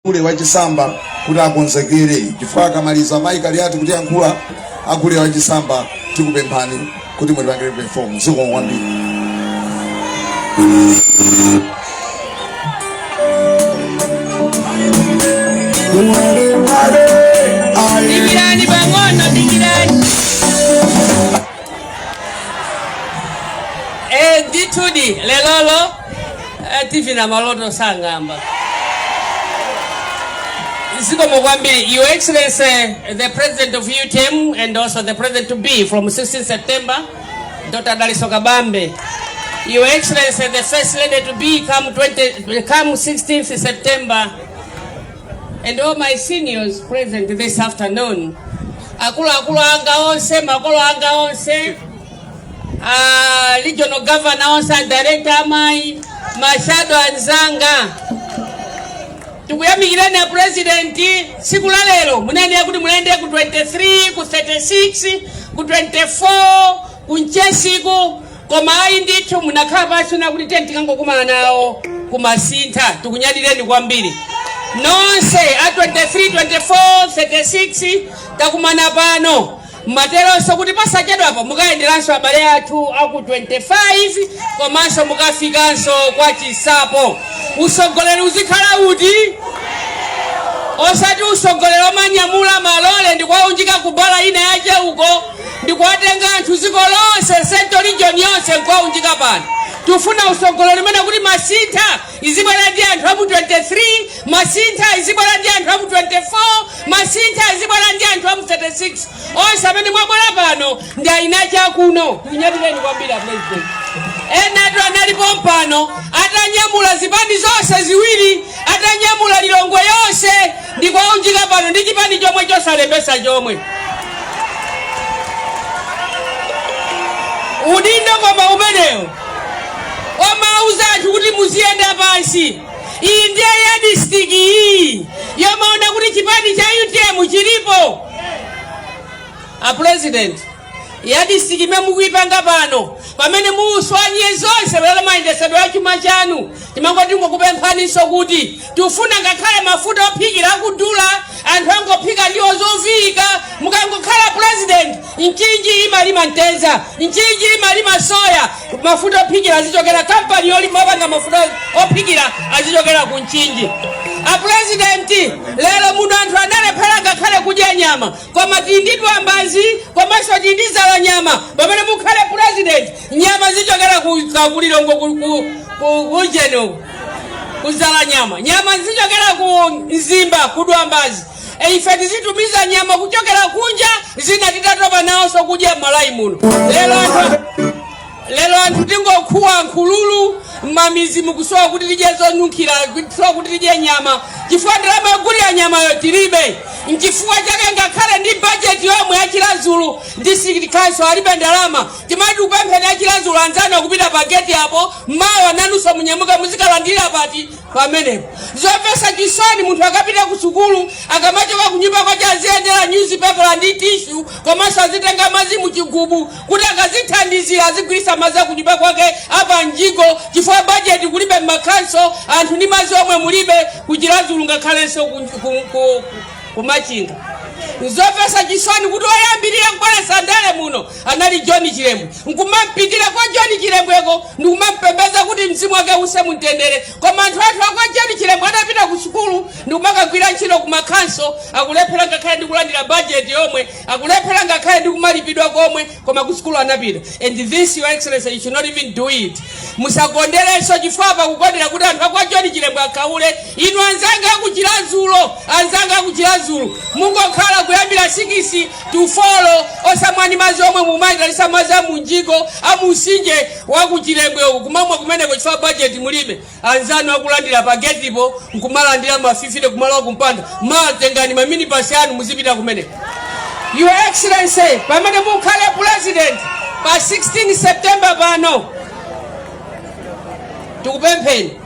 gule wachisamba kuti akonzekere chifukwa akamaliza amayi Kaliati kutiyankhula agule wachisamba tikupemphani kuti mutipangire perform zikomo kwambiri Dikirani pang'ono, dikirani. Eh, ndithudi lelolo Eh, tv na maloto sang'amba zikomo kwambiri your excellency the president of utm and also the president to be from 16 september dr daliso kabambe your excellency the first lady to be come, 20, come 16th september and all my seniors present this afternoon akuluakulu anga onse makolo anga onse a regional governor onse a director amayi mashado anzanga tikuyamikireni a president tsiku la lero munayenera kuti mulayende ku 23 ku 36 ku 24 ku mchesiku koma ayi ndithu munakhala pansi na kuti tiyeni tikangokumana nawo ku Masintha tikunyadireni kwambiri nonse a 23 24 36 takumana pano Mwateronso kuti posachedwapa mukayenderanso abale athu a ku 25 komanso mukafikanso kwa Chinsapo. Usogoleri uzikhala uti? Osati usogoleri omanyamula malole ndikuwaunjika ku bala ina yache uko ndikuwatenga anthu dziko lonse central region yonse nkuwaunjika pano. Tufuna usogoleri umene kuti Masintha izibwera ndi anthu a mu 23 Masintha izibwera ndi anthu a mu 24 Masintha izibwera ndi anthu a mu 36 onse amene mwabwera pano ndi ayina chakuno kunyadireni kwambiri apresident enatu anali pompano atanyamula zipani zonse ziwiri atanyamula lilongwe yonse ndikuwaunjika pano ndi chipani chomwe chosalembesa chomwe udindo koma umenewo omauza anthu kuti muziyenda pansi. Iyi ndiye ya district iyi yomaona kuti chipani cha UTM chilipo. A president ya district imene mukuipanga pano pamene muswanye zonse lero mayendesedwe a chuma chanu timango tingokupemphaninso kuti tifuna ngakhale mafuta ophikira akudula anthu angophika ndiwo zoviika mukangokhala president Mchinji imalima mtedza, Mchinji imalima soya. Mafuta ophikira azichokera kampani yolima opanga mafuta ophikira azichokera ku Mchinji. Apurezidenti, lero muno anthu analephera ngakhale kudya nyama, koma tili ndi Dwambazi komanso tili ndi Dzalanyama. Pamene mukhale purezidenti, nyama zichokera ku ku Lilongwe ku ku- ku ujeni uku ku Dzalanyama nyama zichokera ku Mzimba ku Dwambazi E, ife tizitumiza nyama kuchokera kunja zina titatopa naonso kudya m'malawi muno lero anthu tingokhuwa nkhululu m'mamizi mukusowa kuti tidye zonunkhira kusowa kuti tidye nyama chifukwa ndalama yogulira nyamayo tilibe mchifukwa chake ngakhale ndi bajeti yomwe ya chiradzulu district council alibe ndalama timati kupemphera ya chiradzulu anzanu akupita pa geti apo mawa nanunso munyamuka muzikalandira pati pamenepo zomvetsa chisoni munthu akapita ku sukulu akamachoka ku nyumba kwache aziyendera nyuzipepala ndi tishu komanso azitenga madzi mu chigubu kuti akazithandizira azigwiritsa madzi aku nyumba kwake a pa mjigo chifukwa bajeti kulibe m'makhanso anthu ndi madzi omwe mulibe ku chiradzulu ngakhalenso ku- ku- ku- ku- kumachinga nzomvetsa chisoni kuti oyambirira kukoleza ndale muno anali john chilembwe nkumampitira kwa john chilembweko ndikumampembeza kuti mzimu wake use mumtendere koma anthu athu akwa john chilembwe adapita ku sukulu ndikumakagwira ntchito ku makhanso akulephera ngakhale ndikulandira bajeti yomwe akulephera ngakhale ndikumalipidwa komwe koma ku sukulu anapita and this your excellency you should not even do it musakonderenso chifukwa pakukondera kuti anthu akwa john chilembwe akhaule inu anzanga aku chiradzulu mungokhala kuyambira sikisi to four osamwani madzi omwe mumayitanisa madzi a mumjigo a mumtsinje wa ku chilembwe uku kumamwa kumeneko chifukwa budget mulibe anzanu akulandira pa getipo nkumalandira mafifite kumalowa kumpanda matengani maminibasi anu muzipita kumeneko Your Excellency, pamene mukhale president pa 16 September pano tikupempheni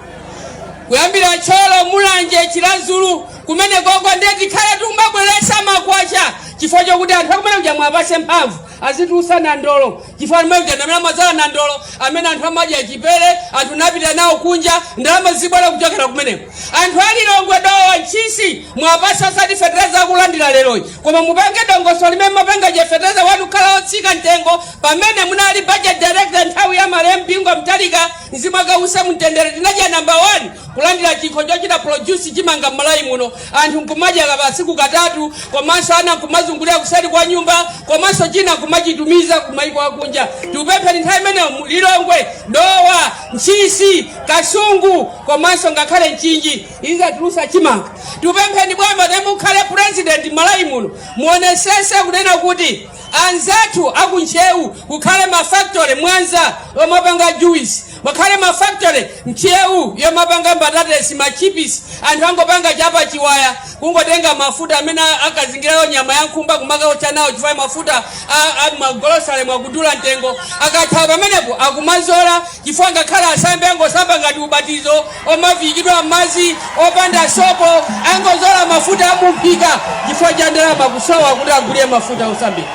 kuyambira thyolo mulanje chiradzulu kumenekoko ndiye tikhale tikumabweresa makwacha chifukwa chokuti anthu akumene kuja mwapase mphamvu azitulusa nandolo chifukwa kumene kuja ndamene amadzala nandolo amene anthu amadya chipere anthu napita nawo kunja ndalama zibwera kuchokera kumeneko anthu alilongwe dowa ntchisi mwapase osati fetereza akulandira leroyi koma mupange dongosolo limene munapanga lija fetereza wanu khala otsika mtengo pamene munali budget director nthawi ya malemu bingu mutharika Mzimu wake use mumtendere tinadya number one kulandira chikho chochita produce chimanga m'Malawi muno anthu nkumadya pa tsiku katatu komanso ana nkumazungulira kuseri kwa nyumba komanso china nkumachitumiza kumaiko akunja tikupempheni nthawi imene Lilongwe, Dowa, Ntchisi, Kasungu komanso ngakhale Mchinji izatulusa chimanga tikupempheni bwana pamene mukhale president m'Malawi muno muonesese kunena kuti anzathu aku ntcheu kukhale ma factory mwanza omapanga juice pakhale ma factory ntcheu yomapanga mbatatesi ma chipisi anthu angopanga chapa chiwaya kungotenga mafuta amene akazingirayo nyama ya nkhumba kumakaotcha nawo chifukwa mafuta a- a- m'magolosalemu akudula mtengo akatsala pamenepo akumazola Chifukwa ngakhale asambe angosamba ngati ubatizo omaviikidwa mmadzi opanda sopo angozola mafuta amumphika chifukwa cha ndalama kusowa kuti agulire mafuta osambira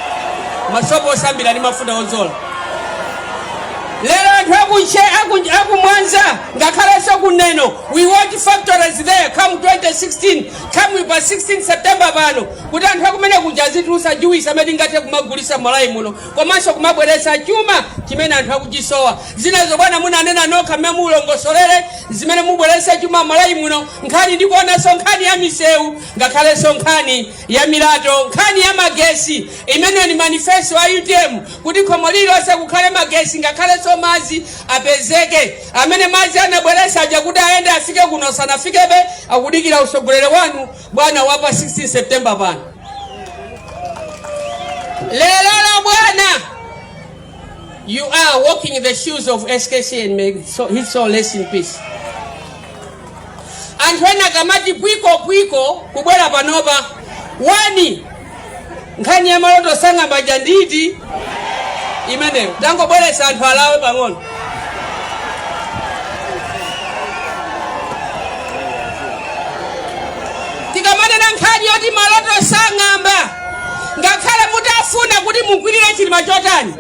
masopo osambira ndi mafuta ozola lero anthu akunche aku- akumwanza ngakhalenso kuneno we want factories there come 2016 come pa 16 september pano kuti anthu akumenekuja azitulusa juwisi amene tingathe kumagulisa Malawi muno komanso kumabweretsa chuma chimene anthu akuchisowa. Zinazo bwana munanena nokha mmene mulongosolere zimene mubweretse chuma Malawi muno, nkhani ndi kuonanso nkhani ya misewu ngakhalenso nkhani ya milato, nkhani ya magesi imene ni manifesto wa utm kuti khomo lililonse kukhale magesi ngakhalenso madzi apezeke. Amene madzi anabweretsa aja kuti ayende afike kuno sanafikebe, akudikira utsogoleri wanu. bwana wapa 16 September pano lero bwana you are walking in the shoes of SKC and may so, his soul rest in peace anthu ena kamati pwiko pwiko kubwera panopa wani nkhani ya maloto osang'amba aja ndati imeneyo tangobweretsa anthu alawe pang'ono tikamanena nkhani yoti maloto osang'amba ngakhale mutafuna kuti mugwirire chilima chotani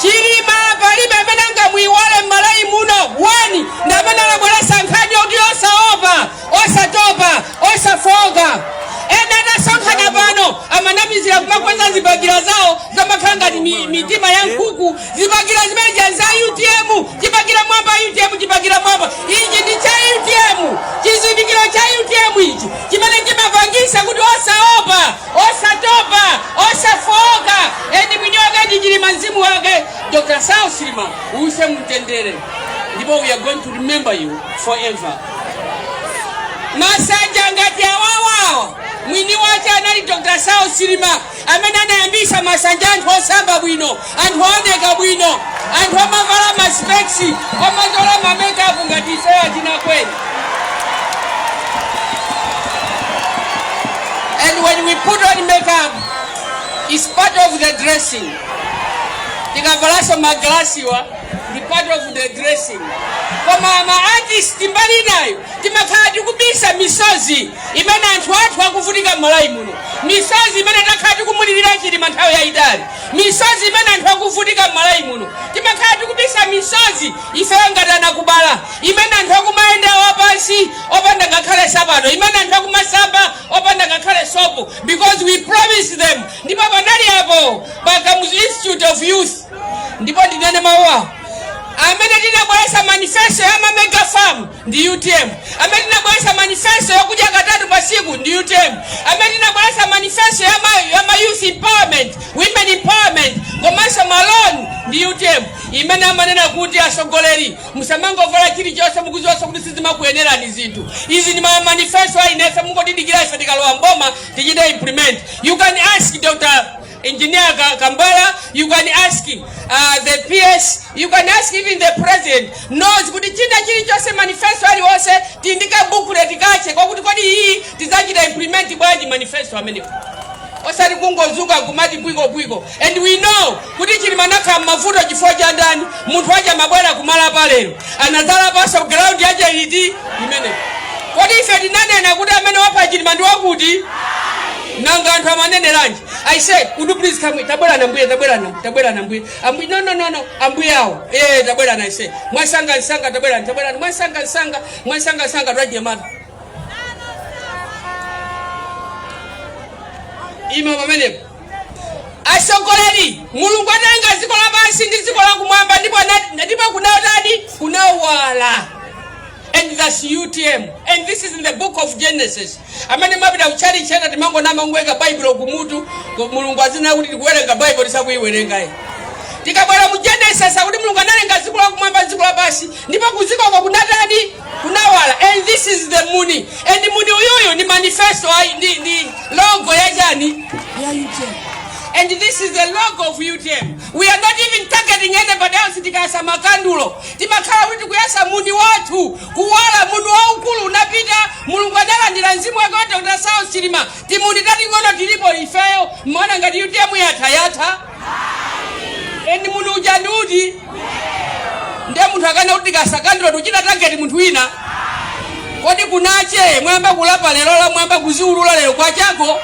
Chilima palibe amene angamuiwale mmalawi muno wani ndamene anabwelesa nkhani yoti osaopa osatopa osafooka ena atasonkhana pano amanamizira kumakweza zibakira zawo zamakhala ngati mi- mitima ya nkhuku zibakira zimene ja za utm chibakira mwamba utm chibakira mwamba ichi ndi cha utm chizindikiro cha utm ichi chimene chimapangisa kuti osaopa Osatopa, osafooka and mwini wake ndi Chilima mzimu wake Dr. Saulos Chilima uuse mumtendere ndipo we are going to remember you forever. Masanja ngati awawawa mwini wake anali Dr. Saulos Chilima amene anayambisa masanja anthu osamba bwino anthu ooneka bwino, anthu omavala ma specs, omazola ma makeup ngati ifeyo atinakweni. And when we put on makeup, it's part of the dressing. Tikavalanso ma glass wa, ndi part of the dressing. Koma ma artist mbali inayo, timakhala tikubisa misozi imene anthu athu akuvutika m'Malawi muno. Misozi imene takhala tikumulirira Chilima nthawi yayitali. Misozi imene anthu akuvutika m'Malawi muno timakhala tikubisa misozi ifeyo ngati anakubala, imene anthu akumayenda wapansi opanda ngakhale sapato, imene anthu akumasamba opanda ngakhale sopo because we promised them ndipo panali apo pa Kamuzu Institute of Youth ndipo ndinene mawu awa amene tinabweretsa manifesto ya ma mega farm ndi utm amene tinabweretsa manifesto yokudya katatu pa siku ndi utm amene tinabweretsa manifesto ya ma, ya ma youth empowerment women empowerment komanso maloni ndi utm imene amanena kuti atsogoleri musamangovala chilichonse mukuziwanso kuti sizimakuyenerani zinthu izi ndi ma manifesto a inefe mungotidikira ife tikalowa mboma tichite implement you can ask dr Engineer Ka- Kambala, you can ask uh, the PS, you can ask even the president knows kuti china chilichonse manifesto aliwonse tindi ka booklet kache kwa kuti kodi iyi tidzachita implement bwanji manifesto amenewo osati kungozuka kumati bwiko bwiko and we know kuti chilima anakhala mmavuto chifukwa cha ndani munthu wache amabwera kumalapa lero anadzalapanso ground yache iti imeneyo kodi ife tinanena kuti amene wapha chilima ndi wakuti nanga anthu amaneneranji i say could you please come tabwerani ambuye tabwerani tabwerani ambuye ambuye no no no no ambuye awo eh tabwerani i say mwansanga nsanga tabwerani tabwerani mwansanga nsanga mwansanga nsanga twaje mata ima pamenepo atsogoleri mulungu adalenga dziko lapansi ndi dziko lakumwamba ndipo kunatani kunawala and thats utm and this is in the book of genesis amene mmapita kuchalichi ena timangonama kungoika baibulo kumutu ku- mulungu aziona kuti tikuwerenga baibulo tisakuiwerengayi tikabwera mu genesis akuti mulungu analenga dziko lakumwamba dziko lapansi ndipo kuzikoko kunatani kunawala and this is the muni and muni uyuyu ni manifesto ayi ndi ndi logo ya chani ya utm and this is the logo of utm We are not even targeting anybody else tikayasa makandulo timakhala kuti tikuyasa muni wathu kuwala muni waukulu unapita mulungu analandira mzimu wake wa dr saulos chilima timuni tating'ono tilipo ifeyo mmaona ngati utm yatha yatha and muni uja ndi uti ndiye munthu akaona kuti tikayasa kandulo tikuchita target munthu wina kodi kunache mwayamba kulapa lero la mwayamba kuziulula lero kwachako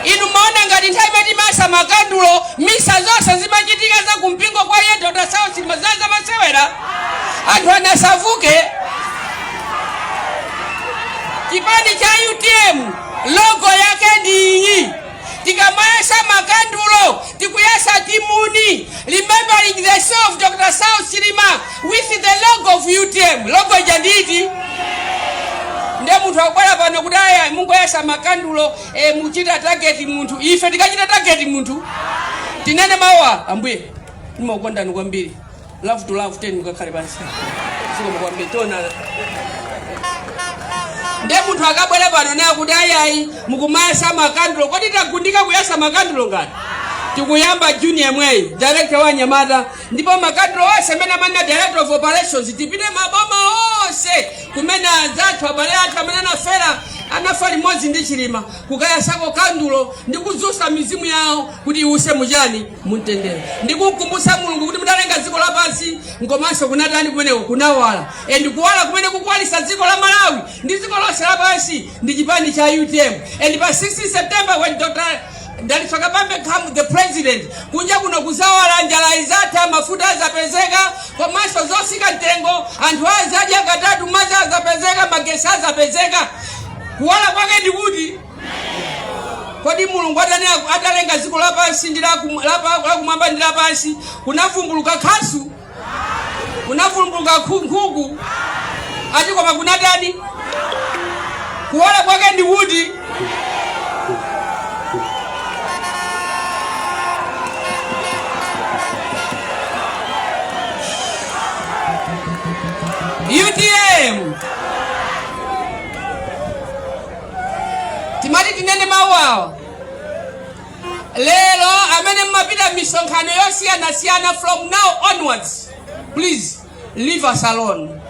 inu mmaona ngati nthawi imene timayasa makandulo misa zonse zimachitika za kumpingo kwa eni dr saulos chilima za za masewera anthu anasavuke chipani cha utm logo yake ndi iyi Tikamayasa makandulo tikuyasa muuni remembering the soul of Dr. Saulos Chilima with the logo of utm. Logo ija ndi iti? Nde munthu akubwera pano kuti aya mukuyasa makandulo eh, mukuchita target munthu. Ife tikachita target munthu. Tinene mawu awa ambuye. Ndimakukondani kwambiri. love to love teni mukakhale pansi zikomo kwambiri tionana nde munthu akabwera pano naye kuti ayayi mukumayasa makandulo kodi tangundika kuyasa makandulo ngati tikuyamba june yemweyu director wa anyamata ndipo makandulo onse amene amanena director of operations tipite maboma onse kumene anzathu abale athu amene anafera anafa limodzi ndi chilima kukayasako kandulo ndi kudzutsa mizimu yawo kuti iwuse muchani mumtendere ndikukumbutsa mulungu kuti mudalenga dziko lapansi komanso kunatani kumeneko kunawala and kuwala kumene kukuwalisa dziko la malawi ndi dziko lonse lapansi ndi chipani cha utm and pa 16 september when dr dalitso kabambe becomes the president kunja kuno kuzawala njala izatha mafuta azapezeka komanso zotsika mtengo anthu azadya katatu madzi azapezeka magesi azapezeka kuwala kwake ndikuti kodi mulungu atani aku- atalenga dziko lapansi ndi lakum- lapa- lakumwamba ndi lapansi kunavumbuluka khasu kunavumbuluka khu- nkhuku ayi koma kunatani kuwala kwake ndi kuti utm timati tinene mawu awa lero amene mmapita m'misonkhano yosiyanasiyana from now onwards please leave us alone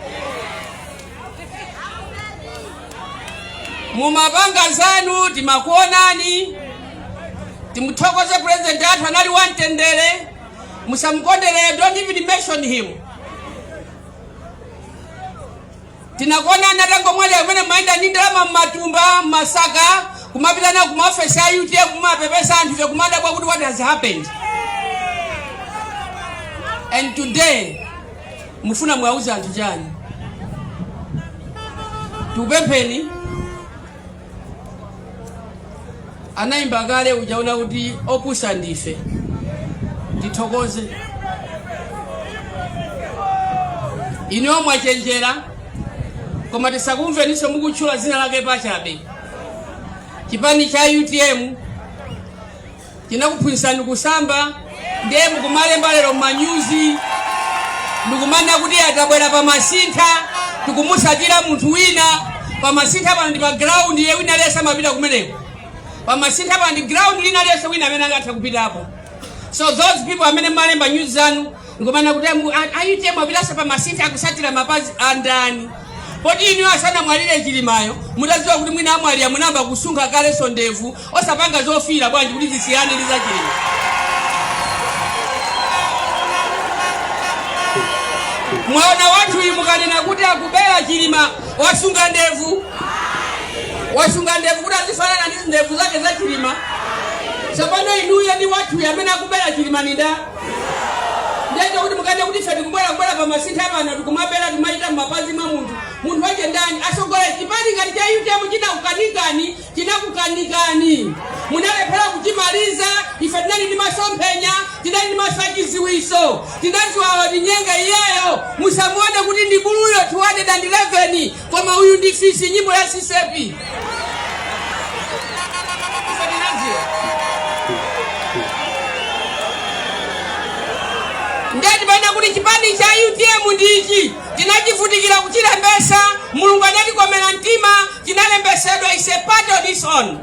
mumapanga zanu timakuonani timuthokoze president wathu anali wamtendere musamukondere don't even mention him tinakuonani atangomwalira kumene mumayenda ndi ndalama m'matumba m'masaka kumapita nazo kumaofesi a utm kumapepesa anthu ife kumadabwa kuti what has happened and today mufuna muwauze anthu chani tikupempheni anayimba kale uja kuti opusa ndife tithokoze inuyo mwachenjera koma tisakumveninso mukutchula dzina lake pachabe chipani cha utm tinakuphunzitsani kusamba ndiye mukumalemba lero mmanyuzi ndikumanena kuti atabwera pa masintha tikumutsatira munthu wina pa masintha pano ndi pa ground wina aliyense amapita kumeneko pa masintha pano ndi ground lina lililonse wina amene angatha kupitapo so those people amene mumalemba nyuzi zanu nkumanena kuti ambu- a- a utm apitanso pa masintha akusatira mapazi andani poti inu asanamwalire chilimayo mutadziwa kuti mwina amwalira munayamba kusunga kalenso ndevu osapanga zofiira bwanji kuti zisiyane ndi zachilima mwaona anthu inu mukanena kuti akubera chilima wasunga ndevu wasunga ndevu kuti azifanana ndi ndevu zake za chilima tsopano inuyo ndi anthuwo amene akubera chilima ndinda ndiye ndi kuti mukanene kuti ife tikubwera kubwera pa masintha pano tikumabera timayenda m'mapazi mwa munthu munthu wache ndani asogolere chipani ngati cha utm chinakukanikani chinakukanikani munalephera kuchimaliza ife tinali ndi masomphenya tinali ndi maso achiziwiso tinadziwa atinyenga iyeyo musamuone kuti ndi buluyo 211 koma uyu ndi fisi nyimbo ya sisepi Usadinazie. ndiye tikunena kuti chipani cha utm ndi ichi tinachivutikira kuchilembesa mulungu anatikomera mtima chinalembesedwa is a part of this on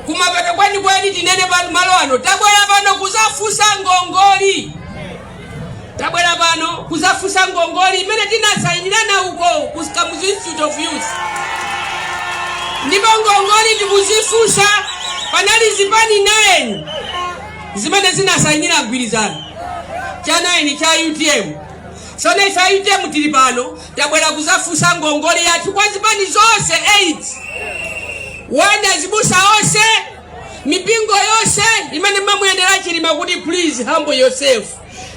kumapeto kwenikweni tinene pano malo ano tabwera pano kuzafunsa ngongoli tabwera pano kuzafunsa ngongoli imene tinasayinirana uko ku Kamuzu Institute of Youth ndipo ngongoli tikuzifunsa panali zipani 9 zimene zinasayinira mgwirizano cha 9 cha UTM sono ife UTM tili pano tabwera kuzafunsa ngongoli yathu kwa zipani zonse 8 kwa azibusa onse mipingo yonse imene mamuyendera chilima kuti please humble yourself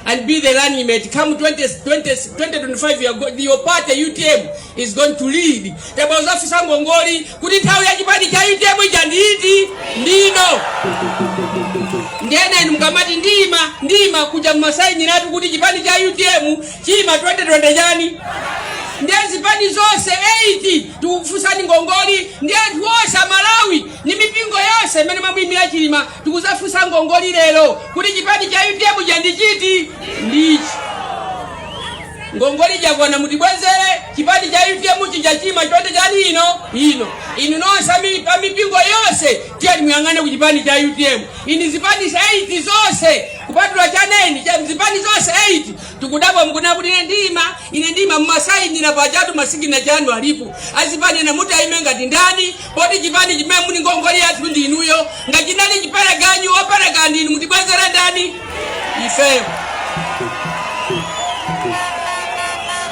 and be the running mate come 20, 20, 2025 you are go, your party utm is going to lead tabwera kuzafusa ngongoli kuti nthawi ya chipani cha utm ija ndi iti ndino ndiye mukamati ndima ndima kuja mumasayinira tu kuti chipani cha utm chiima 2020 chani ndiye zipani zonse 8 tikufusani ngongoli ndi anthu onse amalawi Ndi mipingo yonse imene imamuyimira Chilima tikuzafunsa ngongoli lero kuti chipani cha utm chija ndi chiti? Ndi ichi. Ngongoli jakwana mutibwezere chipani cha utm chija chiima 20 chani ino ino. Inu nonse ami- pa mipingo yonse tiyeni muyang'ane ku chipani cha utm. Inu zipani 8 zonse kupatula cha 9 cha zipani zonse 8 tikudabwa mukuna kuti ine ndima ine ndima mumasayinira pajatu masiginecha anu alipo azipani ena mutayima ngati ndani Poti chipani chimene muli ngongole yathu ndi inuyo. Ngati chinali chipereganyu opereka ndi inu mutibwezere ndani? Ifeyo.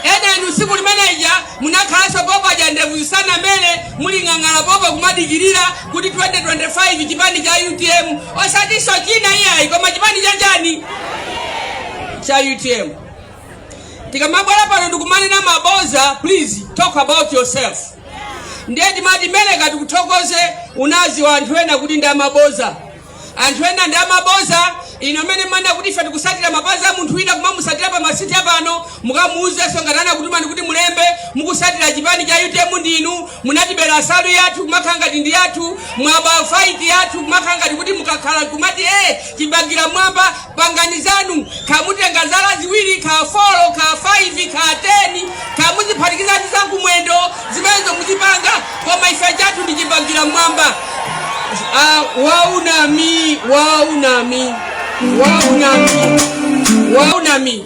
Ena inu tsiku limeneja munakhalanso pompaja ndevu zisanamere muli ng'ang'ala popo kumadikirira kuti 2025 chipani cha UTM osatinso china iyayi koma chipani cha chani? Cha UTM. tikamabwera pano ndikumanena maboza please talk about yourself ndiye timati meleka tikuthokoze unazi wa anthu ena kuti ndi amaboza anthu ena ndi amaboza inu mumanena kuti ife tikusatira mapazi a munthu wina kumamusatira pa masiti apano mukamuuzenso ngati anakutumani kuti mulembe mukusatira chipani cha utm ndinu munatibera nsalu yathu kumakhala ngati ndi yathu mwaba faiti yathu kumakhala ngati kuti mukakhala kumati e chibakera mwamba Pangani zanu, kaya mutenga zala ziwiri, kaya folo, kaya faivi, kaya teni, kaya muziphatikiza ndi za kumwendo, zimenezo muzipanga, koma ife chathu ndi chibakera m'mwamba. Ah, waunami, waunami, waunami, waunami.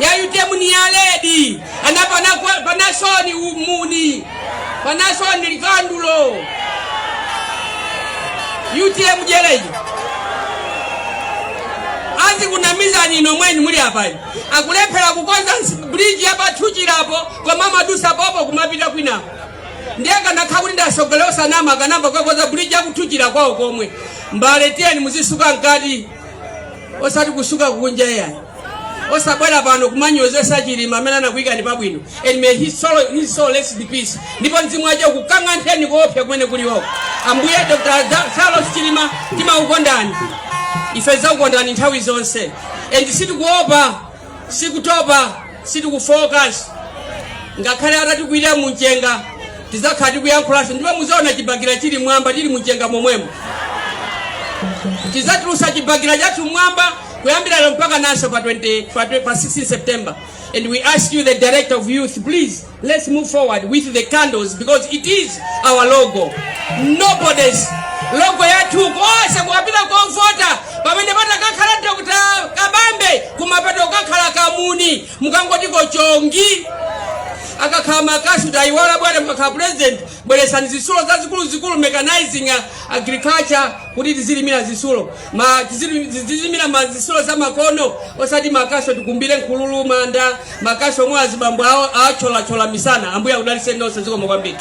ya utm ni ya red anapana kwa- panasoni umuni panasoni likandulo utm jeleyi azikunamizani inu mweni muli apayi akulephera kukonza nsi- bridge ya pa thuchilapo koma amadusa popo kumapita kwinako ndiye akanakhala kuti ndi asogoleri osanama akanayamba kukakonza bridge ya ku thuchila kwawo komwe mbale tiyeni muzisuka mkati osati kusuka kunja iyayi osabwera pano kumanyozesa chilima amene anakuyikani pabwino and may his soul, his soul rest in peace ndipo mzimu wache ukukantheni koopsa kumene kulioko ambuye dr Da- saulos chilima timakukondani ife tizakukondani nthawi zonse and sitikuopa sitikutopa sitikufooka ngakhale atatikwirira mumchenga tizakhala tikuyankhulanso ndipo muzaona chibakera chili mwamba tili mumchenga momwemo tizatulusa chibakera chathu mwamba kuyambira lero mpaka naso pa 20 pa, twe- pa 16 september and we ask you the director of youth please let's move forward with the candles because it is our logo nobody's logo yathu konse kukapita kovota pamene patakakhala dr kabambe kumapeto kukakhala kamuni mukangotiko chongi akakhala makasu tayiwala bwana mukakhala president bweresani zisulo zazikuluzikulu mechanizing uh, agriculture kuti tizilimira zisulo ma tizilu- tizilimira ma zisulo za makono osati makasu tikumbire nkhululu manda makasu omwe azibambo awo atcholachola misana ambuye akudaliseni nonse zikomo kwambiri